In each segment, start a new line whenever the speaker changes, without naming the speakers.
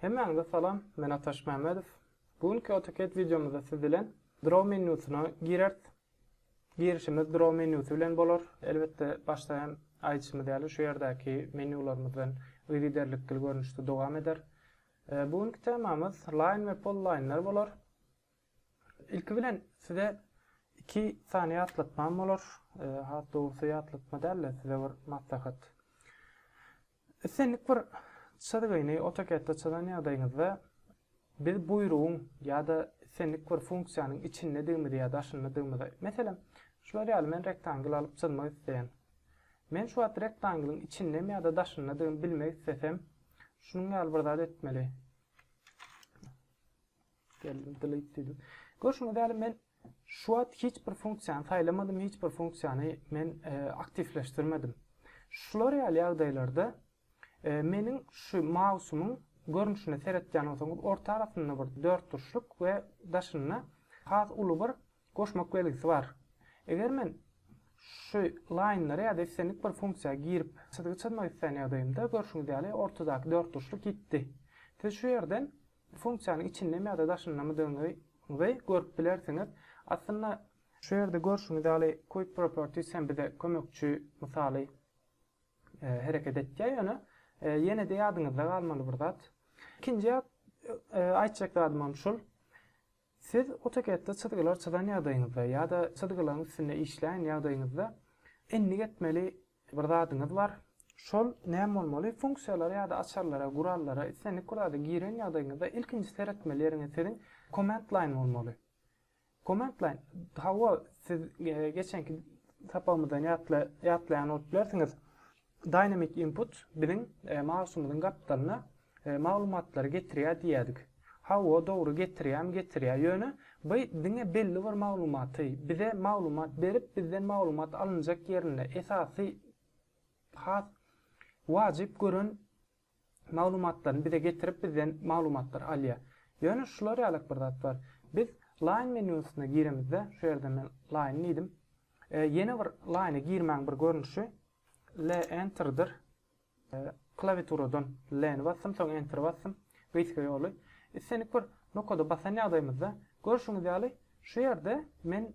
Hemmäňize salam, men Ataş Mämmedow. Bu günki AutoCAD wideomyzda siz bilen Draw menýusyna gireris. Girişimiz Draw menýusy bilen bolar. Elbetde, başda hem aýdyşymyz ýaly, şu ýerdäki menýularymyzdan yzygiderlikli görnüşde dowam eder. Bu günki temamyz Line we Polyline-ler bolar. Ilki bilen size iki sany ýatlatmam bolar. E, has dogrusy ýatlatma däl-de, size bir maslahat. Islendik bir çyzgyny AutoCAD-de çyzan ýagdaýyňyzda biz buýrugyň ýa-da islendik bir funksiýanyň içindedigimizi ýa daşyndadygymy, meselem, şular ýaly men rektangl alyp çyzmak isleýän. Men şu wagt rektanglyň içindemi ýa-da daşyndadygymy bilmek islesem, şunuň ýaly bir zat etmeli. Görşüňiz ýaly men şu wagt hiç bir funksiýany saýlamadym, hiç bir funksiýany men e, aktiwleşdirmedim. Şular ýaly ýagdaýlarda e, meniň şu mausumyň görnüşine seretýän bolsaňyz, orta arasynda bir dört turşluk we daşynda has uly bir goşmak belgisi bar. Eger men şu laýnlara ýa-da islendik bir funksiýa girip, çyzgy çyzmak isleýän ýagdaýymda görşüňiz ýaly ortadaky dört turşluk gitdi. Siz şu ýerden Bu funksiýanyň içindemi ýa-da daşyndamydygyňyzy görüp bilersiňiz. Aslynda. Şu ýerde görşüňiz ýaly Quick Properties hem bize kömekçi mysaly hereket etýär. Ýöne ýene-de ýadyňyzda galmaly bir zat. Ikinji aýtjak zadymam şul. Siz AutoCAD-de çyzgylar çyzan ýagdaýyňyzda ýa-da çyzgylaryň üstünde işleýän ýagdaýyňyzda endik etmeli bir zadyňyz bar. Şol näme bolmaly? Funksiýalara ýa-da açarlara, gurallara, islendik bir zada giren ýagdaýyňyzda ilkinji seretmeli ýeriňiz siziň Command Line bolmaly. Command Line, hawa, siz geçenki sapagymyzdan ýatlaýan bolup bilersiňiz, Dynamic input biziň mausymyzyň gapdalyna maglumatlary getirýär diýýädik. Hawa, dogry getirýämi getirýär. Ýöne by diňe belli bir maglumaty, bize maglumat berip bizden maglumat alynjak ýerinde esasy has wajyp gören maglumatlaryny bize getirip bizden maglumatlary alýar. Ýöne şular ýalyk bir zat bar. Biz Line menýusyna giremizde, şu ýerden men Line diýdim. Ýene bir Line-e girmäň bir görnüşi LEnter-dir. Klawiaturadan Len basdym, soň Enter basdym. Gysga ýoly. Islendik bir nokada basan ýagdaýymyzda, görşüňiz ýaly, şu ýerde men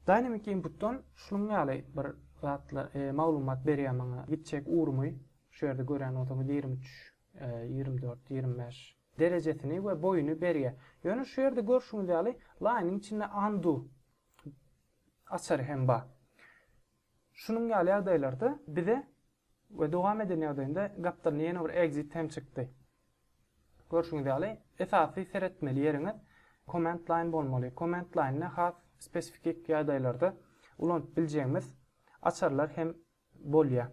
Dynamic inputdan şunuň ýaly bir zatlar maglumat berýär maňa gitjek ugrumy şu ýerde görýän bolsaňyz ýigrimi üç ýigrimi dört ýigrimi bäş derejesini we boýuny berýär ýöne şu ýerde görşüňiz ýaly line-iň içinde undo açary hem bar şunuň ýaly ýagdaýlarda bize We dowam eden ýagdaýynda gapdalynda ýene bir exit hem çykdy. Görşüňiz ýaly esasy seretmeli ýeriňiz command line bolmaly. Command line-de has spesifik ýagdaýlarda ulanyp biljegimiz açarlar hem bolýar.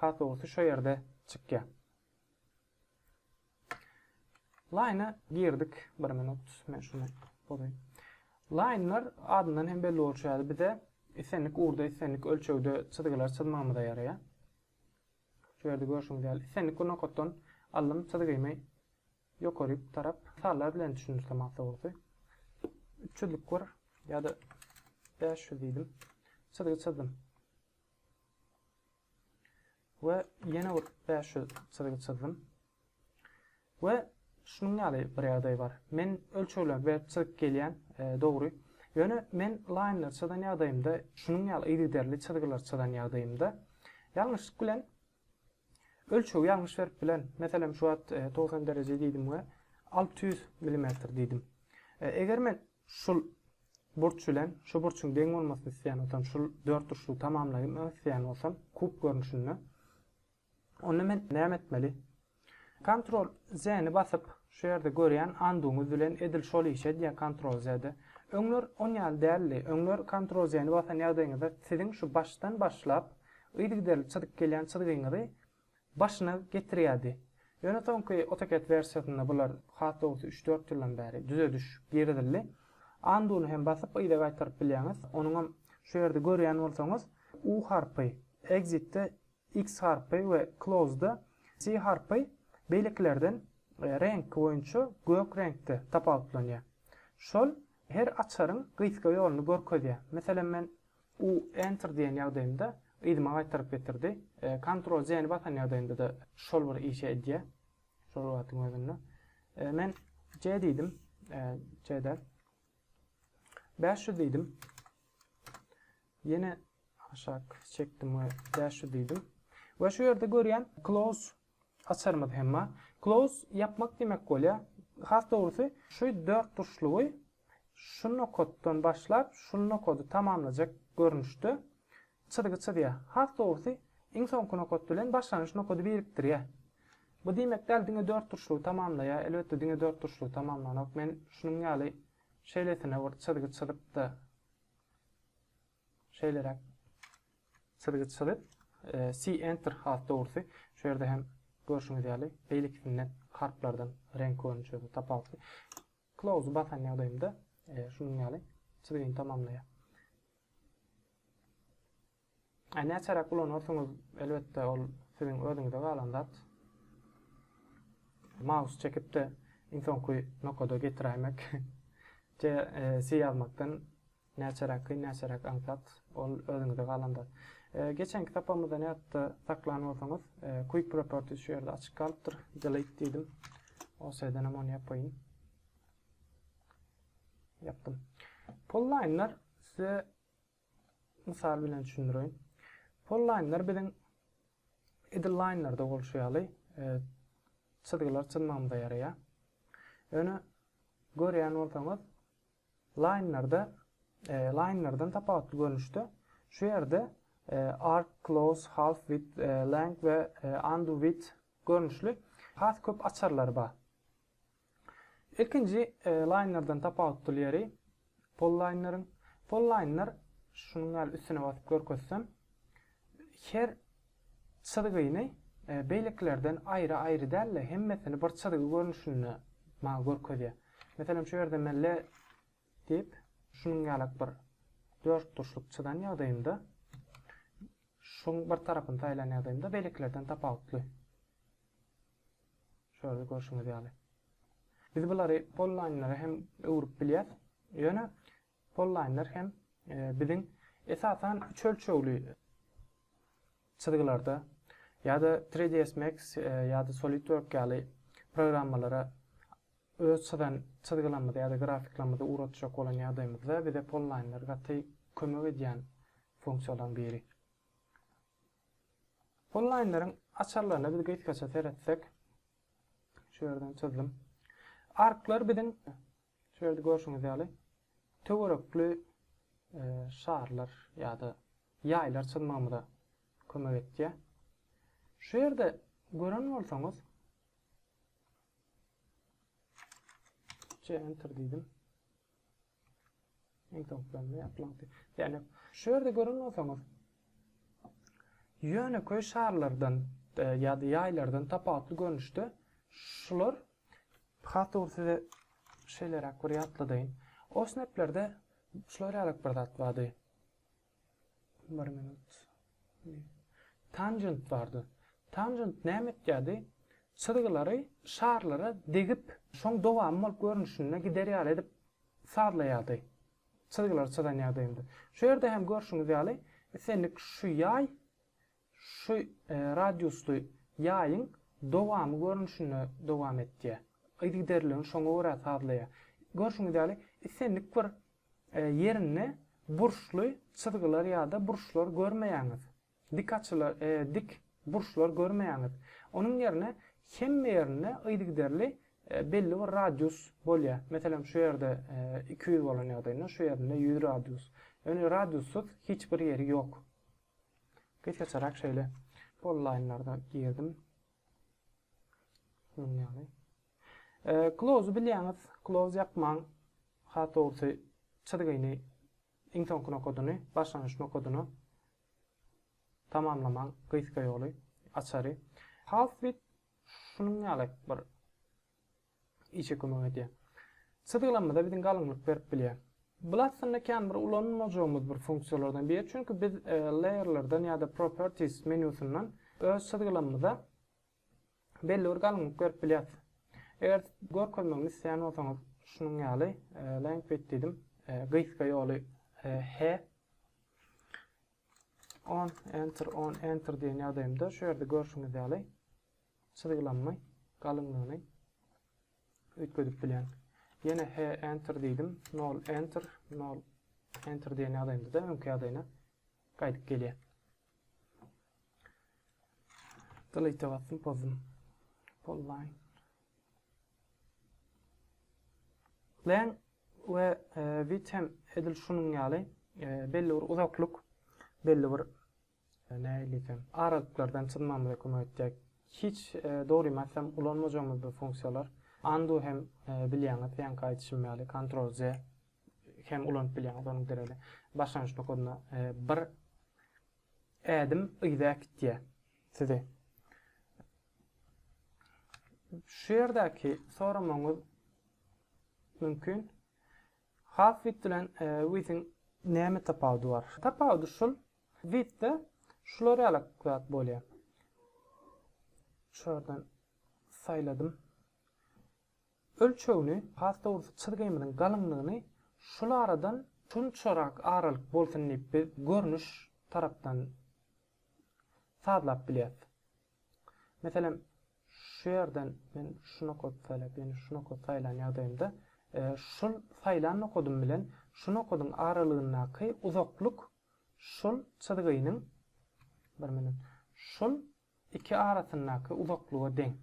Has dogrusy şo ýerde çykýar. Line girdik bir minut. Men şunu bozaýyn. Line'lar adyndan hem belli bolşy ýaly bize islendik ugurda islendik ölçegde çyzgylar çyzmagymyza ýaraýar. Şu ýerde görşüňiz ýaly islendik bir nokatdan aldym çyzgymy ýokary tarap sallar bilen düşündirse maňa dogrusy. 300 lik bir ýa-da 500 diýdim. Çyzgy çyzdym. we ýene bir bäş ýüz çyzgy çyzdym we şunuň ýaly bir ýagdaý bar. Men ölçegler berip çyzyp gelýän, dogry. Ýöne men laýnlar çyzan ýagdaýymda, şunuň ýaly yzygiderli çyzgylar çyzan ýagdaýymda ýalňyşlyk bilen ölçegi ýalňyş berip bilen. Meselem, şu wagt togsan dereje diýdim we alty ýüz millimetr diýdim. Eger men Şul burç bilen şu burçuň deň bolmasyny isleýän bolsam, şul dörtburçlugy tamamlaýyn isleýän bolsam, kub görnüşinde, onda men näme etmeli? Kontrol Z-ni basyp, şu ýerde görýän anduňyz bilen edil şol işi edýär kontrol Z-de. Öňler on ýaly däldi. Öňler kontrol Z-ni basan ýagdaýyňyzda siziň şu başdan başlap yzygiderli çyzyp gelýän çyzgyňyzy başyna getirýärdi. Ýöne soňky AutoCAD wersiýasynda bular has dogrusy üç-dört ýyldan bäri düzediş girizildi. Undo-ny hem basyp yza gaýtaryp bilýäňiz. Onuňam şu ýerde görýän bolsaňyz U harpy, Exit-de X harpy we Close-da C harpy beýlekilerden reňki boýunça gök reňkde tapawutlanýar. Şol her açaryň gysga ýoluny görkezýär. Meselem men U Enter diýen ýagdaýymda yzyma gaýtaryp getirdi. Ctrl C ni basan ýagdaýymda-da şol bir işi edýär. Şol wagtyň özünde. Men C diýdim. C däl. Bäş ýüz diýdim. Ýene aşak çekdim we bäş ýüz diýdim. We şu ýerde görýän close Açarymyz hem bar. Close ýapmak diýmek bolýa. Has dogrusy şu dört burçlugy şu nokatdan başlap şu nokady tamamlajak görnüşde çyzgy çyzýa. Has dogrusy iň soňky nokat bilen başlangyç nokady birikdirýä. Bu diýmek däl diňe dört burçlugy tamamlaýa. Elbetde diňe dört burçlugy tamamlanok. Men şunuň ýaly şeýlesine bir çyzgy çyzypda. Şeýleräk çyzgy çyzyp, See Enter has dogrusy, şu ýerde hem görşüňiz ýaly, beýlekisinden harplardan reňk görnüşi tapawutly. Close basan ýagdaýymda şunuň ýaly çyzgyny tamamlaýar. Näçeräk ulanarsyňyz, elbetde ol siziň özüňize galan zat. Maus çekip-de iň soňky nokada getiräýmek. J, C ýazmakdan Näçe raky, näçe rak aňsat, ol özüňize galan zat. Geçenki sapamyzdan ýatda saklan bolsaňyz, Quick Properties şu ýerde açyk galypdyr. Delete diýdim. OS-den hem ony ýapaýyn. Ýapdym. Polline'lar size mysal bilen düşündireýin. Polline'lar biziň idle line'larda bolşy ýaly çyzgylar çyzmagymyza ýaraýar. Ýöne görýän bolsaňyz, Laýnerda Laýnerden tapawutly görnüşde, şu ýerde Arc, Close, Half Width, Length we Undo Width görnüşli has köp açarlary bar. Ilkinji Laýnerden tapawutly ýeri Pollaýneriň. Pollaýner, şunuň ýaly üstüne basyp görkezsem, her Çyzgyny beýlekilerden aýry-aýry däl-de, hemmesini bir çyzgy görnüşinde maňa görkezýär. Meselem, şu ýerde men le diýip, şunuň ýalak bir dörtburçluk çyzan ýagdaýymda, şuň bir tarapyny saýlan ýagdaýymda beýlekilerden tapawutly. Şu ýerde görşüňiz ýaly. Biz bulary polynlara hem öwrüp bilýäs. Ýöne Pollaýnlar hem biziň esasan üç ölçegli çyzgylarda ýa-da 3ds Max ýa-da SolidWork ýaly programmalara öz çyzan çyzgylamyzy ýa-da grafiklamyzy ugratjak bolan ýagdaýymyzda bize pollaýnlar gaty kömek edýän funksiýalaryň biri. Pollaýnlaryň açarlaryna biz gysgaça seretsek, şu ýerden çyzdym. Arklar biziň Şu ýerde görşüňiz ýaly, töwerekli şarlar ýa-da ýaýlar çyzmagymyza kömek etýär. Şu ýerde gören bolsaňyz, C enter diýdim. Iň soňky ýaplandy. Ýani şu ýerde gören bolsaňyz ýönekeý şarlardan e, ýa-da ýaýlardan tapawutly görnüşde şular Hatur size şeýleräk bir ýatladaýyn. O sneplerde şular ýalyk bir zat bardy. Bir minut. Tanjent bardy. Tanjent näme etýärdi? Çyzgylary şarlara degip, şoň dowamy bolup görnüşinde gider ýaly edip sazlaýardy. Çyzgylary çyzan ýagdaýynda. Şu ýerde hem görşüňiz ýaly, islendik şu ýaý Şu radiusly ýaýyň dowamy görnüşinde dowam etýär. Yzygiderligini şoňa görä sazlaýar. Görşüňiz ýaly, islendik bir ýerinde burçly çyzgylar ýa-da burçlar görmeýäňiz. Dik açylar, dik burçlar görmeýäňiz. Onuň ýerine hemme ýerinde yzygiderli belli bir radius bolýar. Meselem, şu ýerde iki ýüz bolan ýagdaýynda şu ýerinde ýüz radius. Ýöne radiussyz hiç bir ýeri ýok. Gysgaçarak şeýle onlaýnlarda girdim. Şunuň ýaly. Close bilýäňiz, close ýapmaň. Has dogrusy çyzgyny iň soňky nokadyny, başlangyç nokadyny tamamlamaň gysga ýoly, açary. Half width şunuň ýaly bir Işe kömek edýär. Çyzgylanmada biziň galyňlyk berip bilýär. Bul aslynda kän bir ulanmajagymyz bir funksiýalardan biri, çünki biz Layer'lardan ýa-da Properties menýusyndan öz çyzgylanmada belli bir galyňlyk berip bilýäs. Eger görkezmegimi isleýän bolsaňyz, şunuň ýaly Laying Width diýdim, gysga ýoly He. On, Enter, On, Enter diýen ýagdaýymda şu ýerde görşüňiz ýaly, çyzgylanma galyňlygyny üýtgedip bilýän. Ýene he enter diýdim, nol enter, nol enter diýen ýagdaýymda-da öňki ýagdaýyna gaýdyp gelýär. Delete basdym, pozdum. Polline. Len we width e, hem edil şunuň ýaly e, belli bir uzaklyk, belli bir Nähili eken? Aralyklyrdan çyzmamyza kömek etjek hiç dogrymy aýtsam ulanmajagymyz bir funksiýalar. Undo hem bilýäňiz heňki aýdyşym ýaly kontrol z hem ulanyp bilýäňiz onuň dereli. Başlangyç nokadyna bir ädim yza äkitýär sizi. Şu ýerdäki soramagyňyz mümkin. Half width bilen width-iň näme tapawudy bar? Tapawudy şul, width-de şular ýaly zat bolýar. Şuradan saýladym. Ölçegini, has dogrusy çyzgymyzyň galyňlygyny şul aradan şunçarak aralyk bolsun diýip biz görnüş tarapdan sazlap bilýäris. Meselem, şu ýerden men şu nokady saýlap, ýöne şu nokady saýlan ýagdaýymda, şul saýlan nokadym bilen şu nokadyň aralygyndaky uzaklyk şul çyzgynyň, bir minut, şul iki arasyndaky uzaklyga deň.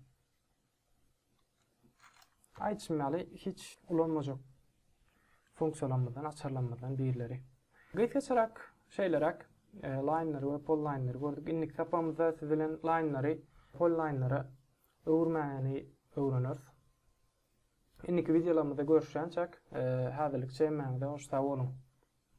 Aýdyşym ýaly, hiç ulanmajak funksiýalarymyzdan, açarlarymyzdan birileri. Gysgaçarak şeýleräk laýnlary we pollaýnlary gördük. Indiki sapagymyzda siz bilen laýnlary pollaýnlara öwürmäni öwreneris. Indiki wideolarymyzda görüşýänçäk, häzirlikçe hemmäňize hoş sag boluň!